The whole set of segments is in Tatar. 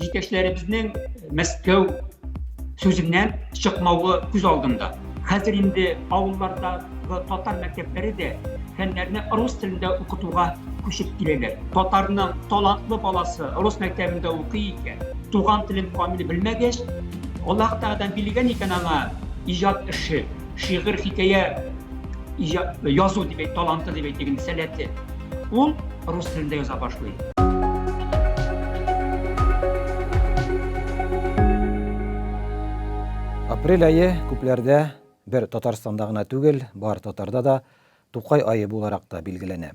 Җитәкчеләребезнең Мәскәү сүзеннән чыкмавы күз алдында. Хәзер инде авылларда татар мәктәпләре дә фәннәрне рус телендә укытуга күчеп киләләр. Татарның талантлы баласы рус мәктәбендә укый икән, туган телен камил белмәгәч, Аллаһ Тәгаләдән билгән икән аңа иҗат эше. шигырь хикәя язу дип әйт таланты дип әйтик инде сәләте ул рус телендә яза башлый апрель айы күпләрдә бер татарстанда гына түгел бар татарда да тукай айы буларак та билгеләнә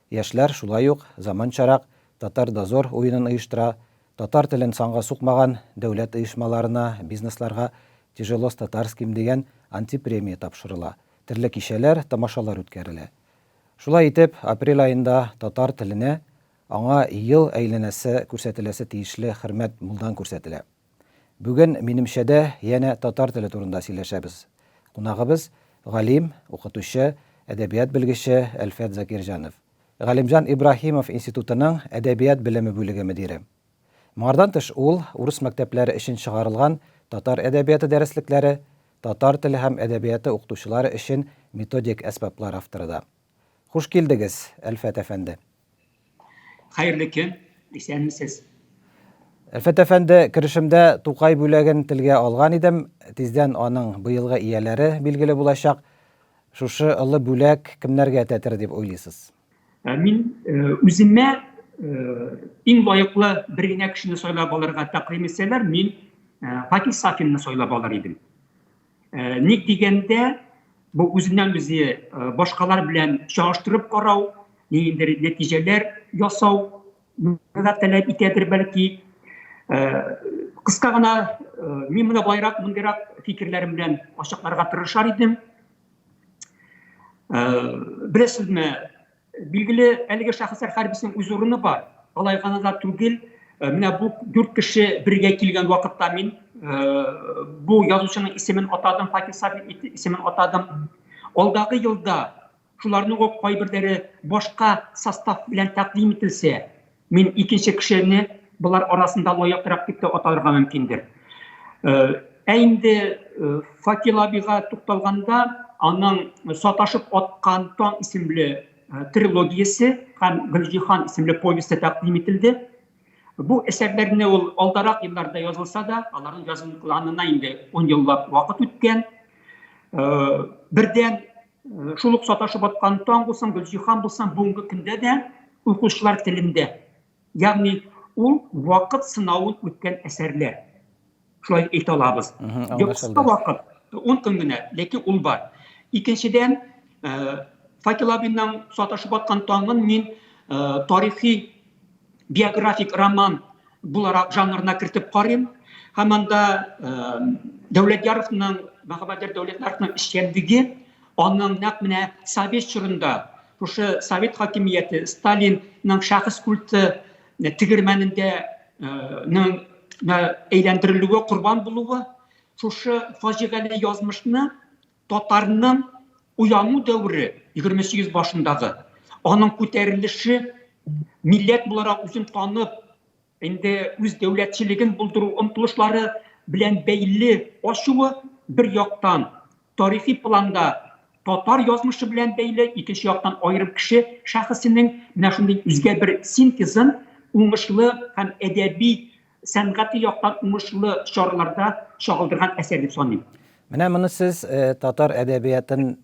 Яшьләр шулай ук заманчарак Татар дозор уенын оештыра, татар телен санга сукмаган дәүләт оешмаларына, бизнесларга Тяжело с татарским дигән антипремия тапшырыла, төрле кичәләр, тамашалар үткәрелә. Шулай итеп, апрель аенда татар теленә, аңа ел әйләнәсе күрсәтеләсе тиешле хөрмәт мулдан күрсәтелә. Бүген минемчәдә янә татар теле турында сөйләшәбез. Кунагыбыз, галим, укытучы, әдәбият белгече Әлфәт Закирҗанов. Галимҗан Ибраһимов институтының әдәбият белеме бүлеге мөдире. Моңардан тыш ул урыс мәктәпләре өчен чыгарылган татар әдәбияты дәреслекләре, татар теле һәм әдәбияты укытучылары өчен методик әсбаплар авторы да. Хуш килдегез, Әлфәт әфәнде! Хәерле көн, исәнмесез. Әлфәт әфәнде, керешемдә Тукай бүләген телгә алган идем. Тиздән аның быелгы ияләре билгеле булачак. Шушы ылы бүләк кемнәргә тәтер дип уйлыйсыз? Ә мин э, үземә э, иң лаеклы бер генә кешене сайлап алырга тәкъдим итсәләр, мин э, Пакис Сафинны сайлап алыр идем. Э, ник дигәндә бу үзеннән үзе э, башкалар белән чагыштырып карау ниндидер нәтиҗәләр ясау да таләп итәдер бәлки э, кыска гына мин менә болайрак мондыйрак фикерләрем белән ачыкларга тырышар идем беләсезме Билгеле, әлеге шәхесләр һәрберсенең үз урыны бар. Алай гына да түгел, э, менә бу дүрт кеше бергә килгән вакытта мин э, бу язучының исемен атадым, Факил Сабин исемен атадым. Алдагы елда шуларның ук кайберләре башка состав белән тәкъдим ителсә, Мин икенче кешене болар арасында лаеклырак дип тә атарга мөмкиндер. Ә инде Факил абига тукталганда, аның Саташып аткан таң исемле трилогиясе һәм Гөлҗиһан исемле повесте тәкъдим ителде. Бу әсәрләрне ул алдарак елларда язылса да, аларның язылганына инде ун еллап вакыт үткән. Бердән Э, шул ук саташып аткан таң булсын гөлҗиһан булсын бүгенге көндә дә укучылар телендә ягъни ул вакыт сынавын үткән әсәрләр шулай дип әйтә алабыз кыска вакыт он көн генә ләкин ул бар икенчедән э, факел абинның саташып аткан таңын мин э, тарихи биографик роман буларак жанрына кертеп карыйм һәм анда дәүләтьяровның мәхәббәтер дәүләтьяровның эшчәнлеге аның нәкъ менә совет чорында шушы совет хакимияте сталинның шәхес культы тегермәнендә әйләндерелүе корбан булуы шушы фаҗигале язмышны Татарның уяну дәвере, 28 башындагы, аның күтәрелеше, милләт буларак үзен танып, инде үз дәүләтчелеген булдыру омтылышлары белән бәйле ачуы бер яктан, тарихи планда татар язмышы белән бәйле, икенче яктан аерым кеше шәхесенең менә шундый үзгә бер синтезын уңышлы һәм әдәби сәнгати яктан уңышлы чараларда чагылдырган әсәр дип саныйм. Менә моны сез татар әдәбиятын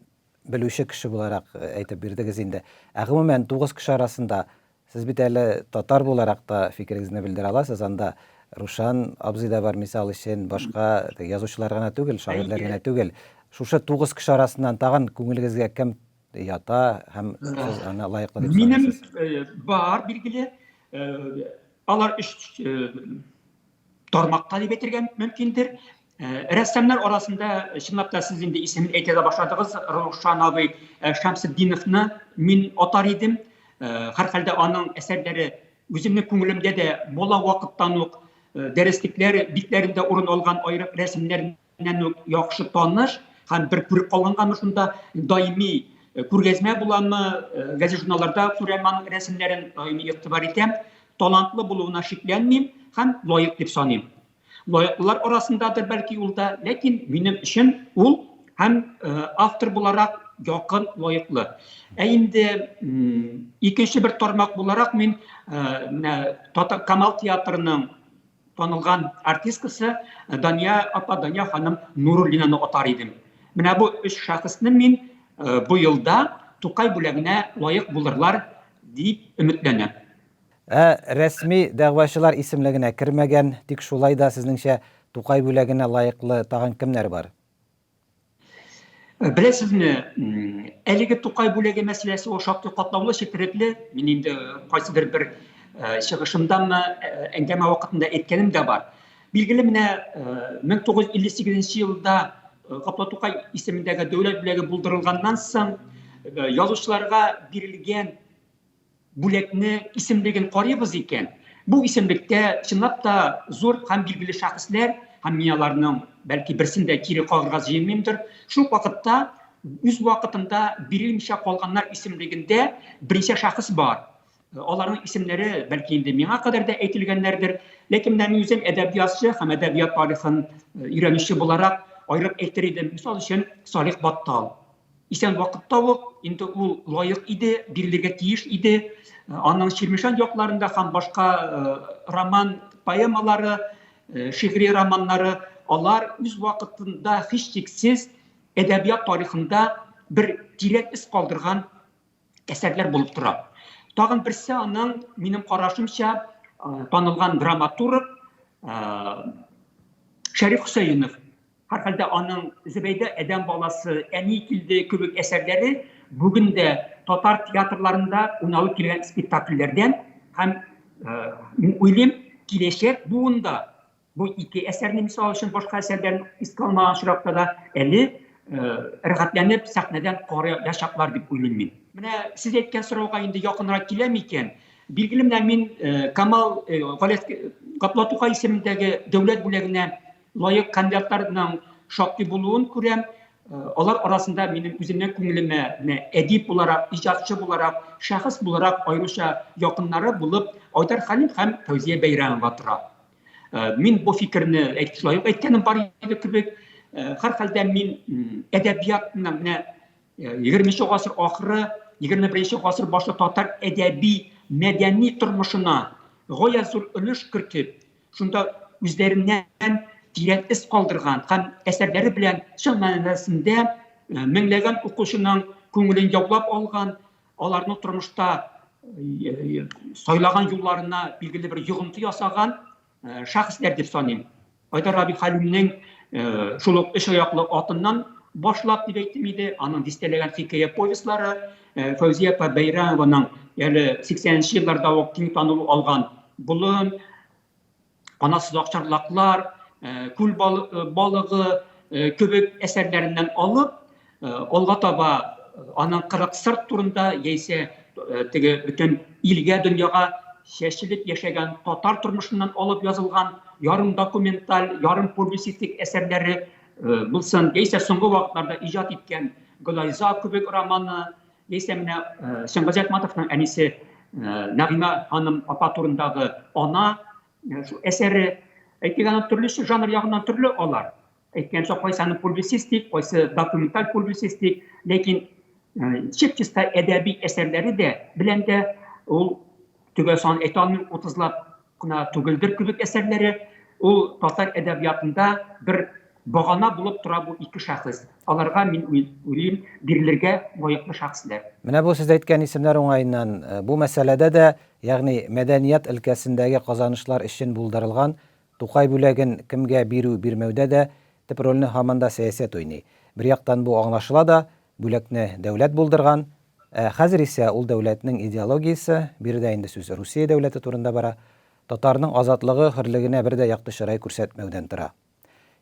белүче кеше буларак әйтеп бирдегез инде. Ә гомумән, тугыз кеше арасында сез бит әле татар буларак та фикерегезне белдерә аласыз, анда Рушан абзый да бар, мисал өчен, башка язучылар гына түгел, шагыйрьләр генә түгел. Шушы тугыз кеше арасыннан тагын күңелегезгә кем ята һәм сез аны лаеклы дип Минем э, бар билгеле э, алар өч э, тармакта дип әйтергә мөмкиндер. Рәссамнар арасында чынлап та сез инде исемен әйтә дә башладыгыз, Рушан абый Шәмсетдиновны мин атар идем. Һәрхәлдә аның әсәрләре үземнең күңелемдә дә бала вакыттан ук дәреслекләр битләрендә урын алган аерым рәсемнәр белән үк яхшы таныш һәм бер күреп калганганмы шунда даими э, күргәзмә буламы э, газет журналларда күрәм аның рәсемнәрен даими игътибар итәм талантлы булуына шикләнмим һәм лаек дип саныйм лаеклылар арасындадыр бәлки ул да ләкин минем өчен ул һәм э, автор буларак якын лаеклы ә инде икенче бер тармак буларак мин менә камал театрының танылган артисткасы э, дания апа дания ханым нуруллинаны атар идем менә бу өч шәхесне мин э, бу елда тукай бүләгенә лаек булырлар дип өметләнәм ә рәсми дәгъвачылар исемлегенә кермәгән тик шулай да сезнеңчә тукай бүләгенә лаеклы тагын кемнәр бар Э, беләсезме әлеге тукай бүләге мәсьәләсе ул шактый катлаулы четерекле мин инде кайсыдыр бер э, чыгышымдамы э, әңгәмә вакытында әйткәнем дә бар билгеле менә 1958 елда каплау тукай исемендәге дәүләт бүләге булдырылганнан соң язучыларга бирелгән бүләкне исемлеген карыйбыз икән, бу исемлектә чынлап та зур һәм билгеле шәхесләр, һәм мин аларның бәлки берсен дә кире кагырга җыенмыймдыр, шул ук вакытта үз вакытында бирелмичә калганнар исемлегендә берничә шәхес бар. Аларның исемнәре бәлки инде миңа кадәр дә әйтелгәннәрдер, ләкин менә мин үзем әдәбиятчы һәм әдәбият тарихын өйрәнүче буларак аерып әйтер идем, мисал өчен, Салих Баттал. Исән вакыт табып, инде ул лаек иде, бирелергә тиеш иде. Аның Чирмешән якларында һәм башка роман поэмалары, шигъри романнары, алар үз вакытында һичшиксез әдәбият тарихында бер тирән эз калдырган әсәрләр булып тора. Тагын берсе аның, минем карашымча, танылган драматург Шәриф Хөсәенов. Һәрхәлдә аның Зөбәйдә әдәм баласы, Әни килде кебек әсәрләре бүген дә татар театрларында уйналып килгән спектакльләрдән һәм мин уйлыйм, киләчәк буында Бу ике әсәрне мисал өчен башка әсәрләрен искә алмаган очракта да әле рәхәтләнеп сәхнәдән карыячаклар дип уйлыйм мин. Менә сез әйткән сорауга инде якынрак килә микән? Билгеле менә мин Камал Гаплат Тукай исемендәге дәүләт бүләгенә лаек кандидатларның шактый булуын күрәм. Алар арасында минем үземнең күңелемә менә әдип буларак, иҗатчы буларак, шәхес буларак аеруча якыннары булып Айдар Хәлим һәм Фәүзия Бәйрәмова тора. Э, мин бу фикерне шулай ук әйткәнем бар иде кебек һәрхәлдә э, мин әдәбиятны менә э, егерменче гасыр ахыры егерме беренче гасыр башы татар әдәби мәдәни тормышына гая зур өлеш кертеп шунда үзләреннән тирән эз калдырган һәм әсәрләре белән чын мәнәсендә меңләгән укучының күңелен яулап алган аларның тормышта сайлаган юлларына билгеле бер йогынты ясаган шәхесләр дип саныйм айдар раби хәлимнең шул ук өч аяклы атыннан башлап дип әйттем иде аның дистәләгән хикәя повестьлары фәүзия апа бәйрәмованың әле сиксәненче елларда ук киң танылу алган болын канатсыз акчарлаклар, э, күл э, балыгы э, кебек әсәрләреннән алып, алга таба аның кырык сырт турында яисә теге бөтен илгә дөньяга чәчелеп яшәгән татар тормышыннан алып язылган ярым документаль, ярым публицистик әсәрләре булсын, яисә соңгы вакытларда иҗат иткән Гөлайза кебек романы, Исә менә Сөнбәз Айтматовның әнисе Нәгыймә ханым апа турындагы ана әсәре әйтик аны төрлесе жанр ягыннан төрле алар. Әйткәнчә кайсы аны публицистик, кайсы документаль публицистик, ләкин чип-чиста әдәби әсәрләре дә белән дә ул Төгәл сан әйтә алмыйм, утызлап кына түгелдер кебек әсәрләре. Ул татар әдәбиятында бер багана булып тора бу ике шәхес. Аларга мин уйлыйм, бирелергә лаеклы шәхесләр. Менә бу сез әйткән исемнәр уңаеннан, бу мәсьәләдә дә, ягъни мәдәният өлкәсендәге казанышлар өчен булдырылган Тукай бүләген кемгә бирү-бирмәүдә дә төп рольне һаман да сәясәт уйный. Бер яктан бу аңлашыла да, Бүләкне дәүләт булдырган. Ә хәзер исә ул дәүләтнең идеологиясе, биредә инде сүз Русия дәүләте турында бара, татарның азатлыгы, хөрлегенә бер дә якты чырай күрсәтмәүдән тора.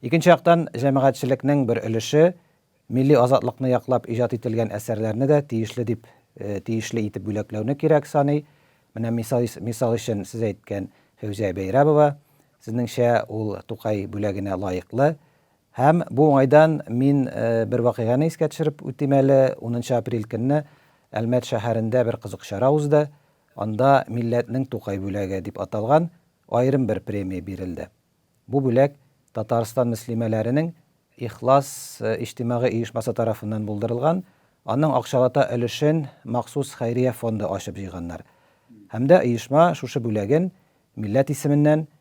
Икенче яктан, җәмәгатьчелекнең бер өлеше милли азатлыкны яклап иҗат ителгән әсәрләрне дә тиешле дип, тиешле итеп бүләкләүне кирәк саный. Менә мисал, мисал өчен сез әйткән Фәүзия Бәйрәбова, сезнеңчә, ул Тукай бүләгенә лаеклы. Һәм бу уңайдан мин бер вакыйганы искә төшереп үтим әле, унынчы апрель көнне Әлмәт шәһәрендә бер кызык чара узды, анда Милләтнең Тукай бүләге дип аталган аерым бер премия бирелде. Бу бүләк Татарстан мөслимәләренең Ихлас иҗтимагый оешмасы тарафыннан булдырылган, аның акчалата өлешен махсус хәйрия фонды ачып җыйганнар. Һәм дә оешма шушы бүләген милләт исеменнән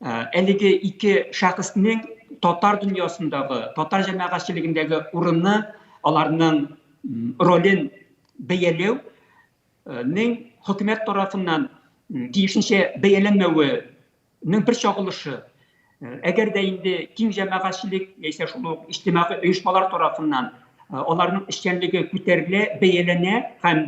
Әлеге ике шәхеснең татар дөньясындагы, татар җәмәгатьчелегендәге урыны, аларның ролен бәяләү нең хөкүмәт тарафыннан тиешенчә бәяләнмәвенең бер чагылышы. Әгәр дә инде киң җәмәгатьчелек яисә шул ук иҗтимагый оешмалар тарафыннан аларның эшчәнлеге күтәрелә, бәяләнә һәм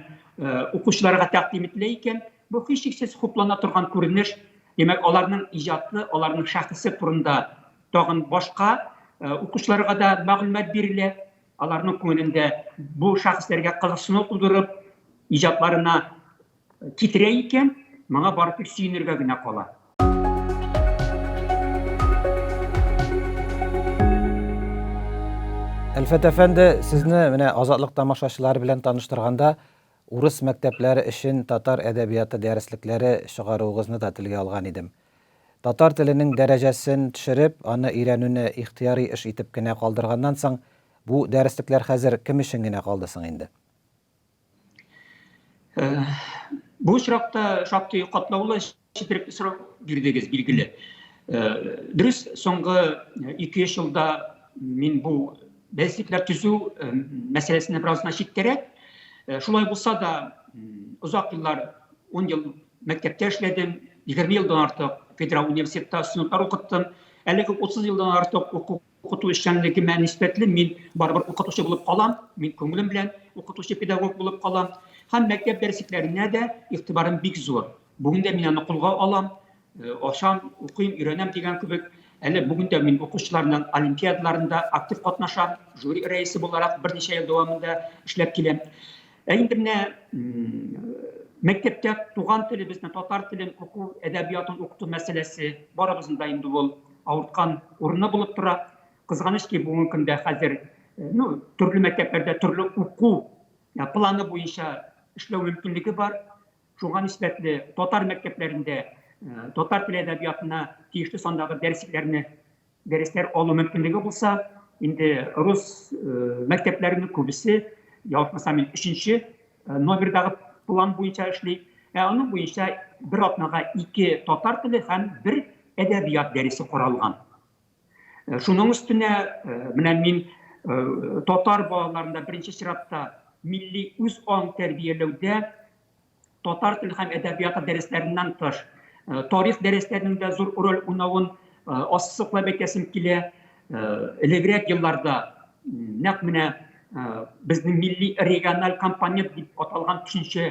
укучыларга тәкъдим ителә икән, Бу һичшиксез хуплана торган күренеш, димәк, аларның иҗаты, аларның шәхесе турында тагын башка укучыларга да мәгълүмат бирелә, аларның күңелендә бу шәхесләргә кызыксыну тудырып, иҗатларына китерә икән, моңа бары тик сөенергә генә кала. Әлфәт әфәнде, сезне менә Азатлык тамашачылары белән таныштырганда, Урыс мәктәпләре өчен татар әдәбияты дәреслекләре чыгаруыгызны да телгә алган идем. Татар теленең дәрәҗәсен төшереп, аны өйрәнүне ихтыяри эш итеп кенә калдырганнан соң, бу дәреслекләр хәзер кем өчен генә калды соң инде? Бу очракта шактый катлаулы Четерек срок бирдегез, билгеле. Дөрес, соңгы 2-3 елда мин бу бәйслекләр төзү мәсьәләсенә бераз гына читтәрәк. Шулай булса да, озак еллар, 10 ел мәктәптә эшләдем, 20 елдан артык федераль университетта студентлар укыттым. Әлеге 30 елдан артык уку укыту эшчәнлегемә нисбәтле мин барыбер укытучы булып калам, мин күңелем белән укытучы педагог булып калам. Һәм мәктәп дәресләренә дә игътибарым бик зур. Бүген дә мин аны кулга алам, э, ашам, укыйм, өйрәнәм дигән кебек. Әле бүген дә мин укучыларның олимпиадаларында актив катнашам, жюри рәисе буларак берничә ел дәвамында эшләп киләм. Ә инде менә мәктәптә туган телебезне, татар телен уку, әдәбиятын укыту мәсьәләсе барыбызның да инде ул авырткан урыны булып тора. Кызганыч ки, бүгенге көндә хәзер ну, төрле мәктәпләрдә төрле уку планы буенча эшләү мөмкинлеге бар. Шуңа нисбәтле татар мәктәпләрендә татар теле әдәбиятына тиешле сандагы дәресләрне дәресләр алу мөмкинлеге булса, инде рус мәктәпләренең күбесе, ялгышмасам мин, өченче номердагы план буенча эшли. Ә аның буенча бер атнага ике татар теле һәм бер әдәбият дәресе каралган. Шуның өстенә менә мин татар балаларында беренче чиратта милли үз аң тәрбияләүдә Татар теле һәм әдәбияты дәресләреннән тыш, э, тарих дәресләренең дә зур роль уйнавын э, ассызыклап әйтәсем килә. Элегрәк елларда нәкъ менә безнең милли региональ компонент дип аталган төшенчә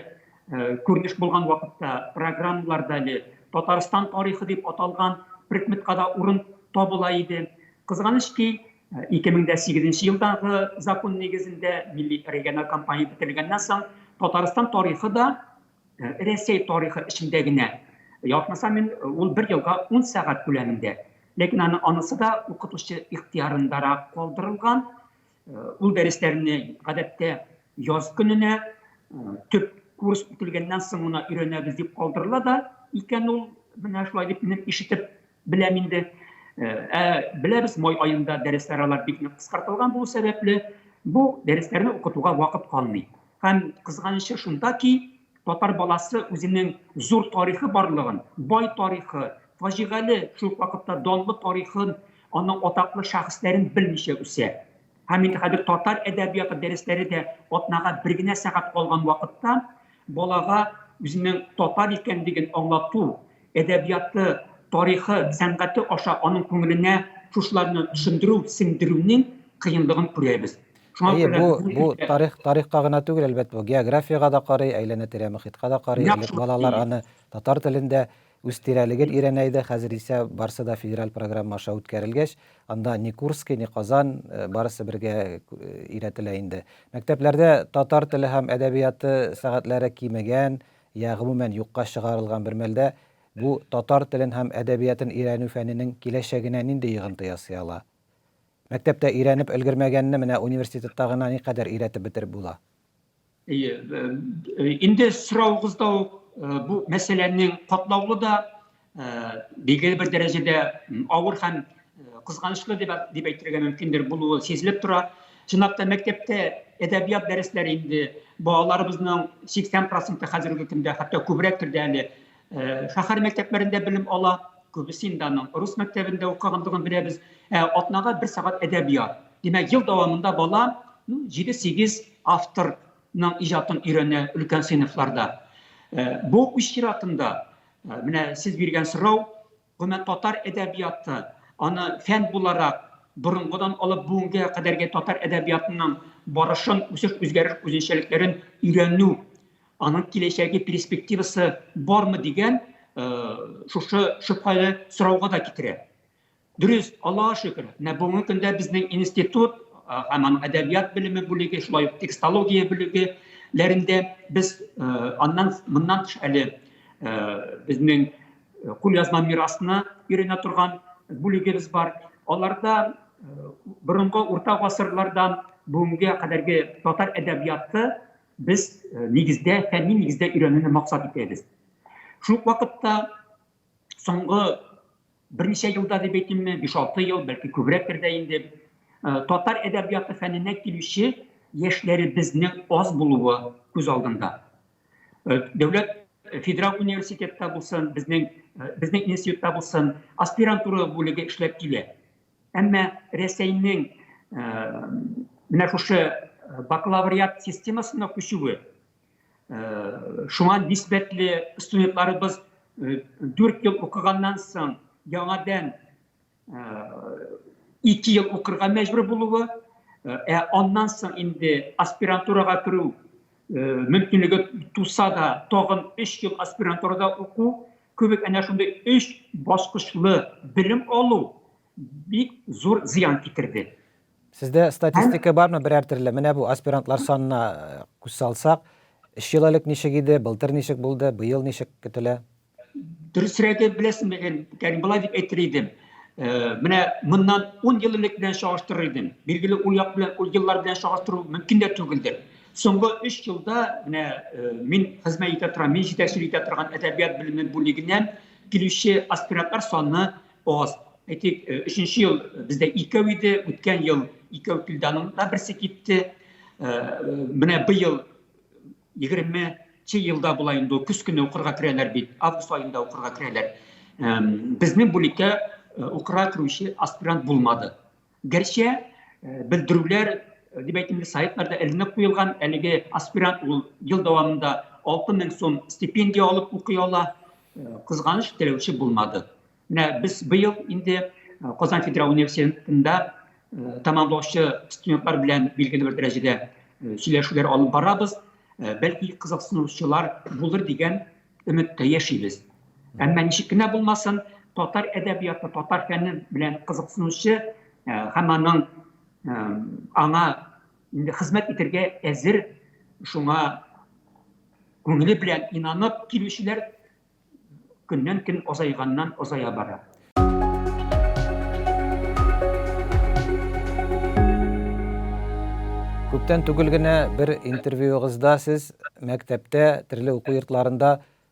күренеш булган вакытта программаларда әле Татарстан тарихы дип аталган предметка да урын табыла иде. Кызганыч ки, 2008 нче елдагы закон нигезендә милли региональ кампания бетерелгәннән соң Татарстан тарихы да э, Рәсәй тарихы эчендә генә. Ятмаса мин э, ул бер елга 10 сәгать күләмендә. Ләкин аны анысы да укытучы ихтиярындарак калдырылган. Э, ул дәресләрне гадәттә яз көненә төп курс үтелгәннән соң гына өйрәнәбез дип калдырыла да икән ул менә шулай дип минем ишетеп Беләм инде. Ә беләбез, май аенда дәресләр алар бик нык кыскартылган булу сәбәпле, бу дәресләрне укытуга вакыт калмый. Һәм кызганычы шунда ки, татар баласы үзенең зур тарихы барлыгын, бай тарихы, фаҗигале, шул ук вакытта данлы тарихын, аның атаклы шәхесләрен белмичә үсә. Һәм инде хәзер татар әдәбияты дәресләре дә атнага бер генә сәгать калган вакытта балага үзенең татар икәнлеген аңлату, әдәбияты, тарихы, сәнгате аша аның күңеленә шушыларны төшендерү, сеңдерүнең кыенлыгын күрәбез. Әйе, бу, бу тарих, тарихка гына түгел, әлбәт, бу географиягә да карый, әйләнә-тирә мөхиткә да карый. Элек балалар аны татар телендә үз тирәлеген өйрәнә иде, хәзер исә барысы да федераль программа аша үткәрелгәч, анда ни Курский, ни Казан, э, барысы бергә э, өйрәтелә инде. Мәктәпләрдә татар теле һәм әдәбияты сәгатьләре кимегән, я гомумән юкка чыгарылган бер мәлдә бу татар телен һәм әдәбиятын өйрәнү фәненең киләчәгенә нинди йогынты ясый ала? Мәктәптә өйрәнеп өлгермәгәнне менә университетта гына никадәр өйрәтеп бетереп була? Әйе, инде соравыгызда ук бу мәсьәләнең катлаулы да, Билгеле бер дәрәҗәдә авыр һәм кызганычлы дип дип әйтергә мөмкиндер булуы сизелеп тора. Чынлап та мәктәптә әдәбият дәресләре инде балаларыбызның 80% хәзерге көндә хәтта күбрәктер дә әле шәһәр мәктәпләрендә белем ала. Күбесе инде аның рус мәктәбендә укыгандыгын беләбез. Ә атнага бер сәгать әдәбият. Димәк, ел дәвамында бала 7-8 авторның иҗатын өйрәнә өлкән сыйныфларда. Бу үз чиратында Ә, менә сез биргән сорау, гомумән татар әдәбияты, аны фән буларак борынгыдан алып бүгенгә кадәрге татар әдәбиятының барышын, үсеш, үзгәреш, үзенчәлекләрен өйрәнү, аның киләчәге перспективасы бармы дигән э, шушы шөбһәле сорауга да китерә. Дөрес, Аллаһа шөкер, менә бүгенге көндә безнең институт һәм аның әдәбият белеме бүлеге, шулай ук текстология бүлегеләрендә без аннан моннан тыш әле безнең кулъязма мирасына өйрәнә торган бүлегебез бар. Аларда борынгы урта гасырлардан бүгенгә кадәрге татар әдәбияты без э, нигездә фәнни нигездә өйрәнүне максат итәбез шул вакытта соңгы Берничә елда дип әйтимме, 5-6 ел, бәлки күбрәктер дә инде, татар әдәбияты фәненә килүче яшьләребезнең аз булуы күз алдында. Дәүләт федераль университетта булсын, безнең безнең институтта булсын, аспирантура бүлеге эшләп килә. Әмма Рәсәйнең менә шушы бакалавриат системасына күчүе Шуңа нисбәтле студентларыбыз 4 ел укыганнан соң яңадан 2 ел укырга мәҗбүр булуы, ә аннан соң инде аспирантурага керү мөмкинлеге туса да, тагын 3 ел аспирантурада уку кебек әнә шундый 3 баскычлы белем алу бик зур зыян китерде. Сездә статистика бармы берәр төрле? Менә бу аспирантлар санына э, күз салсак, өч ел элек ничек иде, былтыр ничек булды, быел ничек көтелә? Дөресрәге беләсеңме, ягъни былай дип әйтер идем. Э, менә моннан 10 ел элек белән чагыштырыр идем. Билгеле, ул як белән, ул еллар белән чагыштыру мөмкин дә түгелдер. Соңгы 3 елда менә э, мин хезмәт итә торган, мин җитәкчелек итә торган әдәбият белеме бүлегеннән килүче аспирантлар саны Аз. Әйтик, э, өченче ел бездә икәү иде, үткән ел икәү килде, аның да берсе китте. Э, менә быел егерменче елда була инде ул көз көне укырга керәләр бит, август аенда укырга керәләр. Безнең бүлеккә укырга керүче аспирант булмады. Гәрчә белдерүләр дип әйтимдә сайтларда эленеп куелган, әлеге аспирант ул ел дәвамында 6000 сум стипендия алып укый ала. Кызганыч теләүче булмады. Менә без быел инде Казан федераль университетында тәмамлаучы студентлар белән билгеле бер дәрәҗәдә сөйләшүләр алып барабыз. Бәлки кызыксынучылар булыр дигән Өметтә яшибез. Әмма ничек кенә булмасын, татар әдәбияты, татар фәне белән кызыксынучы э, һәм аның э, аңа инде хезмәт итәргә әзер, шуңа күңеле белән инанып килүчеләр көннән көн азайганнан азая бара. Күптән түгел генә бер интервьюыгызда сез мәктәптә, төрле уку йортларында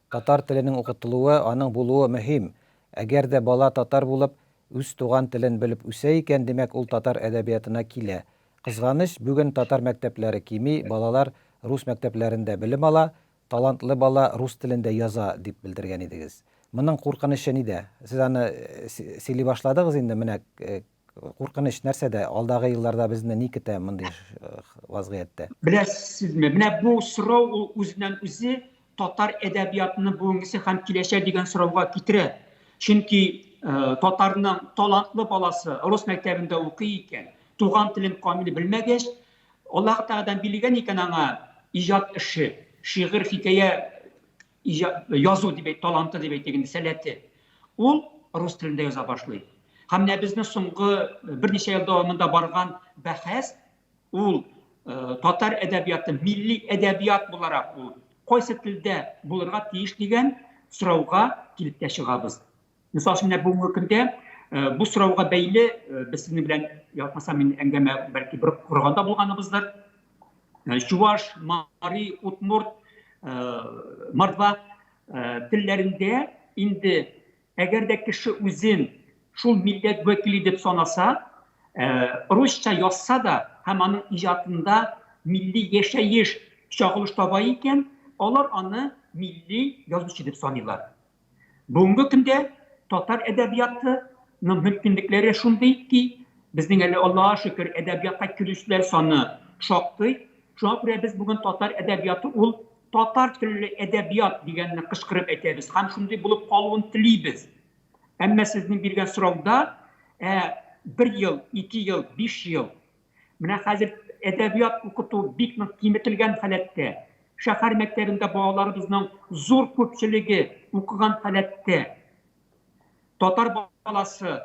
татар теленең укытылуы, аның булуы мөһим. Әгәр дә бала татар булып, үз туган телен белеп үсә икән, димәк, ул татар әдәбиятына килә. Кызганыч, бүген татар мәктәпләре кими, балалар рус мәктәпләрендә белем ала, Талантлы бала рус телендә яза, дип белдергән идегез. Моның куркынычы нидә? Сез аны сөйли башладыгыз инде, менә куркыныч нәрсәдә, алдагы елларда безне ни көтә мондый вазгыятьтә? Беләсезме, менә бу сорау ул үзеннән-үзе татар әдәбиятының бүгенгесе һәм киләчәге дигән сорауга китерә. Чөнки татарның талантлы баласы рус мәктәбендә укый икән, туган телен камил белмәгәч, Аллаһы Тәгаләдән билгеләгән икән аңа иҗат эше, шигырь, хикәя язу дип әйт, таланты дип әйтик инде, сәләте. Ул рус телендә яза башлый. Һәм менә безне соңгы э, берничә ел дәвамында барган бәхәс ул э, татар әдәбияты милли әдәбият буларак ул кайсы телдә булырга тиеш дигән сорауга килеп тә чыгабыз. Мисал өчен, менә бүгенге көндә бу сорауга бәйле без сезнең белән ятмаса мин әңгәмә бәлки бер корганда булганыбыздыр. Чуваш, Мари, Утмурт, Мордва телләрендә инде әгәр дә кеше үзен шул милләт вәкиле дип санаса, русча язса да һәм аның иҗатында милли яшәеш чагылыш таба икән, алар аны милли язучы дип саныйлар. Бүгенге көндә татар әдәбияты ның мөмкинлекләре шундый ки, безнең әле Аллага шөкер әдәбиятка керүчеләр саны шактый, шуңа күрә без бүген татар әдәбияты ул татар телле әдәбият дигәнне кычкырып әйтәбез һәм шундый булып калуын телибез. Әмма сезнең биргән сорауда ә, бер ел, ике ел, биш ел, Менә хәзер әдәбият укыту бик нык киметелгән халәттә. Шәһәр мәктәбендә балаларыбызның зур күпчелеге укыган халәттә. Татар баласы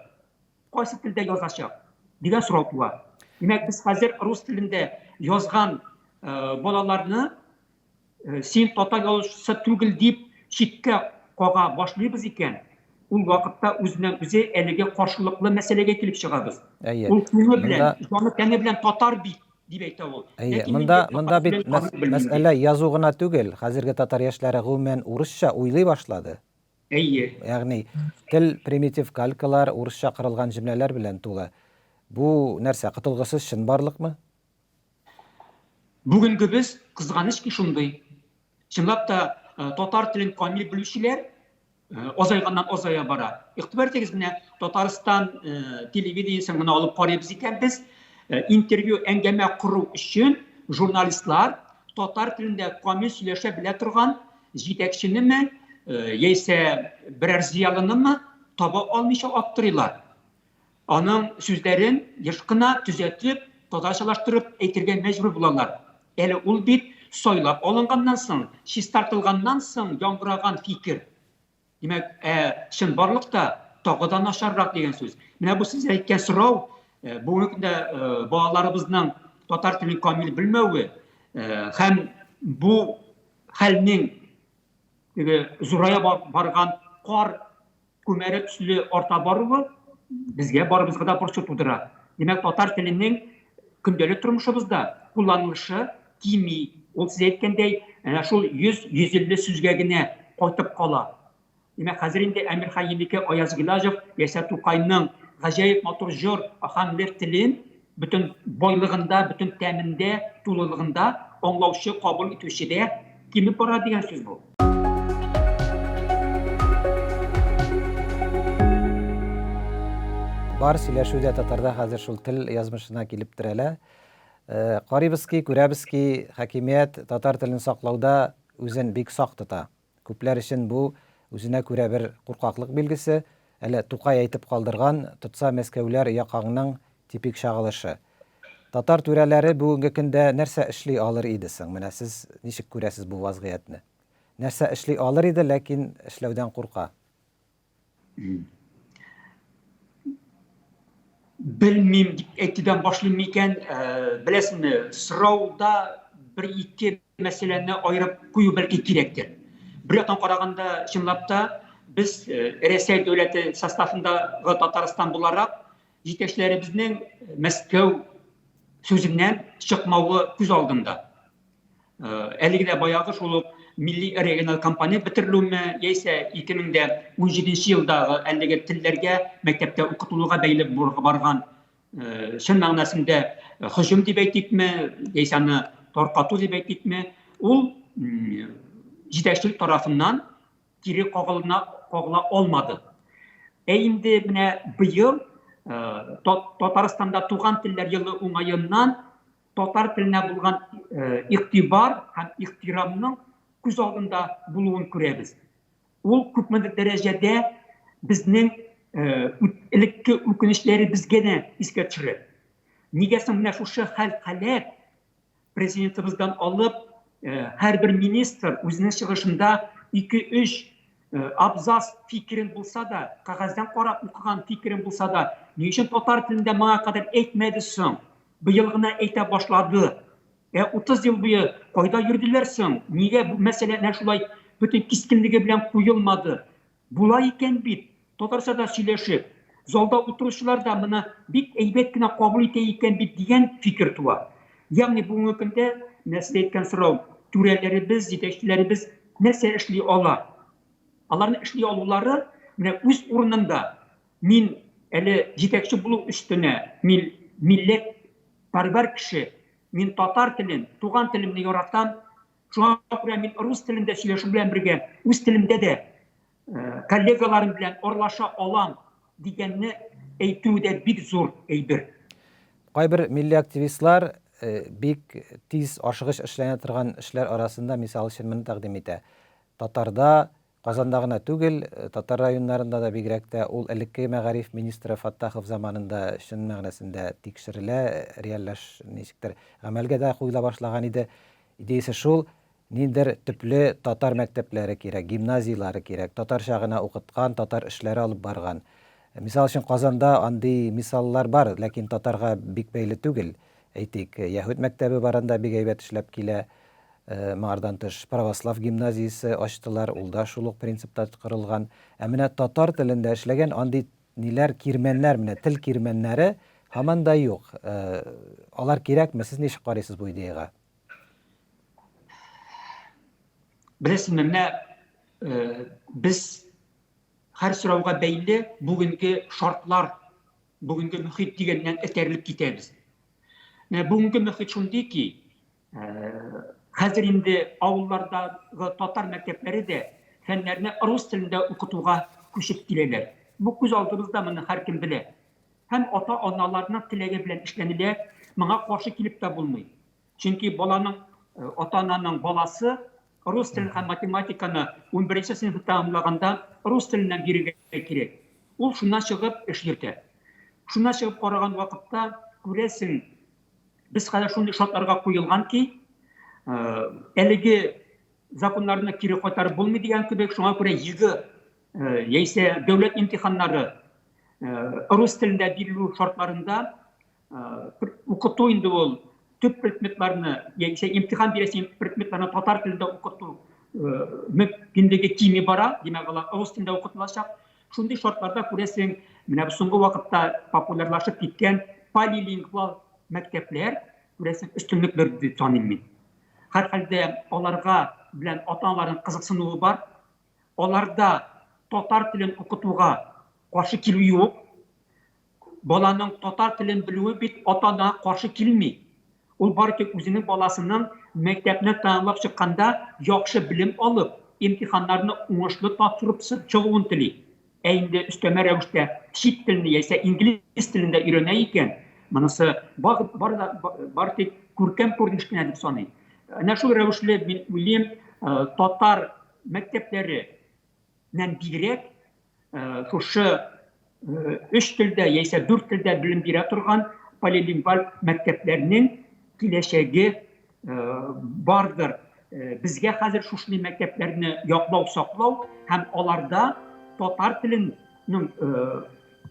кайсы телдә язачак дигән сорау туа. Димәк, без хәзер рус телендә язган э, балаларны э, син татар язучысы түгел дип читкә кага башлыйбыз икән, ул вакытта үзеннән үзе әлеге каршылыклы мәсьәләгә килеп чыгабыз. Әйе. Ул күңел белән, җаны тәне белән татар бит дип әйтә ул. Әйе, монда монда бит мәсьәлә язу гына түгел. Хәзерге татар яшьләре гомумән урысча уйлый башлады. Әйе. Ягъни тел примитив калькалар, урысча кырылган җөмләләр белән тулы. Бу нәрсә, котылгысыз чынбарлыкмы? Бүгенгебез, кызганыч ки, шундый. Чынлап та, татар телен камил белүчеләр азайганнан азая бара. Игътибар итегез, менә Татарстан телевидениесен гына алып карыйбыз икән без, интервью, әңгәмә кору өчен журналистлар татар телендә камил сөйләшә белә торган җитәкченеме, яисә берәр зыялынымы таба алмыйча аптырыйлар. Аның сүзләрен еш кына төзәтеп, татарчалаштырып әйтергә мәҗбүр булалар. Әле ул бит сайлап алынганнан соң, чистартылганнан соң яңгыраган фикер. Димәк, ә чынбарлыкта тагы да начаррак дигән сүз. Менә бу сез әйткән сорау, бүгенге көндә балаларыбызның татар телен камил белмәве һәм бу хәлнең теге зурая барган кар Күмәре төсле арта баруы безгә барыбызга да борчу тудыра. Димәк, татар теленең көндәлек тормышыбызда кулланылышы кими. Ул сез әйткәндәй, әнә шул 100-150 сүзгә генә кайтып кала. Димәк, хәзер инде Әмир Хаемике Аяз Гилажев яисә Тукайның гаҗәеп матур җор, аханлер телен Бөтен байлыгында, бөтен тәмендә, тулылыгында аңлаучы, кабул итүче дә кимеп бара дигән сүз бу. Бар сөйләшү дә татарда хәзер шул тел язмышына килеп терәлә. Карыйбыз ки, күрәбез ки, хакимият татар телен саклауда үзен бик сак тота. Күпләр өчен бу, үзенә күрә бер куркаклык билгесе, әле Тукай әйтеп калдырган, тотса Мәскәүләр якаңның типик чагылышы. Татар түрәләре бүгенге көндә нәрсә эшли алыр иде соң, менә сез ничек күрәсез бу вазгыятьне? Нәрсә эшли алыр иде, ләкин эшләүдән курка? Белмим дип әйтүдән башлыйм микән? Э, беләсеңме, сорауда бер ике мәсьәләне аерып кую бәлки кирәктер. Бер яктан караганда, чынлап та, без э, Рәсәй дәүләте составындагы Татарстан буларак җитәкчеләребезнең Мәскәү сүзеннән чыкмавы күз алдында. Әлеге дә баягы шул ук милли региональ кампания бетерелүме, яисә 2017 елдагы әлеге телләргә мәктәптә укытылуга бәйле барган чын мәгънәсендә хөҗүм дип әйтикме, яисә аны таркату дип әйтикме, ул җитәкчелек тарафыннан кире кагылына кагыла алмады. Ә инде менә быел Татарстанда туган телләр елы уңаеннан татар теленә булган игътибар һәм ихтирамның күз алдында булуын күрәбез. Ул күпмедер дәрәҗәдә безнең элекке үкенечләребезгә дә искә төшерә. Нигә соң менә шушы хәл-халәт президентыбыздан алып һәрбер министр үзенең чыгышында 2-3 абзац фикерен булса да, кәгазьдән карап укыган фикерен булса да, ни өчен татар телендә моңа кадәр әйтмәде соң? Быел гына әйтә башлады. Ә 30 ел буе кайда йөрделәр соң? Нигә бу мәсьәлә әнә шулай бөтен кискенлеге белән куелмады? Була икән бит, татарча да сөйләшеп, залда утыручылар да моны бик әйбәт кенә кабул итә икән бит дигән фикер туа. Ягъни бүгенге көндә, менә сез әйткән сорау, түрәләребез, җитәкчеләребез нәрсә эшли ала? Аларның эшли алулары менә үз урынында. Мин әле җитәкче булу өстенә, мин милләт парвар кеше, мин татар телен, туган телемне яратам, шуңа күрә мин рус телендә сөйләшү белән бергә, үз телемдә дә коллегаларым белән орлаша алам дигәнне әйтү дә бик зур әйбер. Кайбер милли активистлар бик тиз ашыгыч эшләнә торган эшләр арасында, мисал өчен, моны тәкъдим итә, татарда Казанда гына түгел, татар районнарында да, бигрәк тә ул элеккеге мәгариф министры Фаттахов заманында чын мәгънәсендә тикшерелә, реальләш ничектер гамәлгә дә куела башлаган иде. Идеясе шул, ниндидер төпле татар мәктәпләре кирәк, гимназияләре кирәк, татарча гына укыткан, татар эшләре алып барган. Мисал өчен, Казанда андый мисаллар бар, ләкин татарга бик бәйле түгел. Әйтик, яһүд мәктәбе бар анда, бик әйбәт эшләп килә. Моңардан тыш, православ гимназиясе ачтылар, ул да шул ук принципта корылган. Ә менә татар телендә эшләгән андый ниләр, кирмәннәр, менә тел кирмәннәре һаман да юк. Алар кирәкме? Сез ничек карыйсыз бу идеягә? Беләсезме, менә без һәр сорауга бәйле бүгенге шартлар Бүгенге мөхит дигәннән этәрелеп китәбез. Менә бүгенге мөхит шундый ки, хәзер инде авыллардагы татар мәктәпләре дә фәннәрне рус телендә укытуга күчеп киләләр. Бу күз алдыбызда, моны һәркем белә. Һәм ата-аналарның теләге белән эшләнелә, моңа каршы килеп тә булмый. Чөнки баланың ата-ананың баласы рус телен һәм математиканы 11-нче сыйныфны тәмамлаганда рус теленнән бирергә кирәк. Ул шуннан чыгып эш йөртә. Шуннан чыгып караган вакытта күрәсең, без хәзер шундый шартларга куелган ки, әлеге законнарны кире кайтарып булмый дигән кебек, шуңа күрә ЕГЭ яисә дәүләт имтиханнары рус телендә бирелү шартларында укыту инде ул төп предметларны яисә имтихан бирәсе предметларны татар телендә укыту мөмкинлеге кими бара димәк алар рус телендә укытылачак шундый шартларда күрәсең менә соңгы вакытта популярлашып киткән полилингвал мәктәпләр күрәсең өстенлекләр дип таныйм мин һәрхәлдә аларга белән ата аналарның кызыксынуы бар аларда татар телен укытуга каршы килү юк. Баланың татар телен белүе бит ата-ана каршы килми. Ул бары тик үзенең баласының мәктәпне тәмамлап чыкканда яхшы белем алып, имтиханнарны уңышлы тапшырып чыгуын тели. Ә инде өстәмә рәвештә чит телне яисә инглиз телен дә өйрәнә икән, монысы бары тик күркәм күренеш кенә дип саныйм. Әнә шул рәвешле мин уйлыйм, татар мәктәпләреннән бигрәк шушы өч телдә яисә дүрт телдә белем бирә торган полилингваль мәктәпләрнең киләчәге бардыр. Безгә хәзер шушындый мәктәпләрне яклау, саклау һәм аларда татар теленең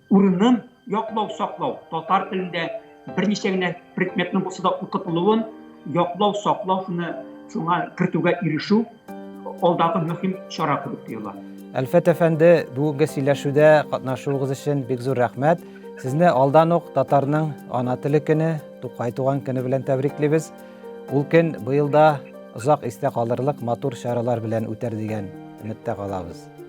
Урынын яклау, саклау. Татар телендә берничә генә предметның булса да укытылуын яклау, саклау шуны шуңа кертүгә ирешү алдагы мөһим чара кебек тоела. Әлфәт әфәнде, бүгенге сөйләшүдә катнашуыгыз өчен бик зур рәхмәт. Сезне алдан ук татарның ана теле көне, Тукай туган көне белән тәбриклибез. Ул көн быел да озак истә калырлык матур чаралар белән үтәр дигән өметтә калабыз.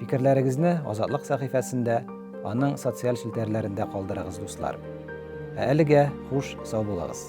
Фикерләрегезне Азатлык сәхифәсендә, аның социаль челтәрләрендә калдырыгыз, дуслар. Ә әлегә хуш, сау булыгыз.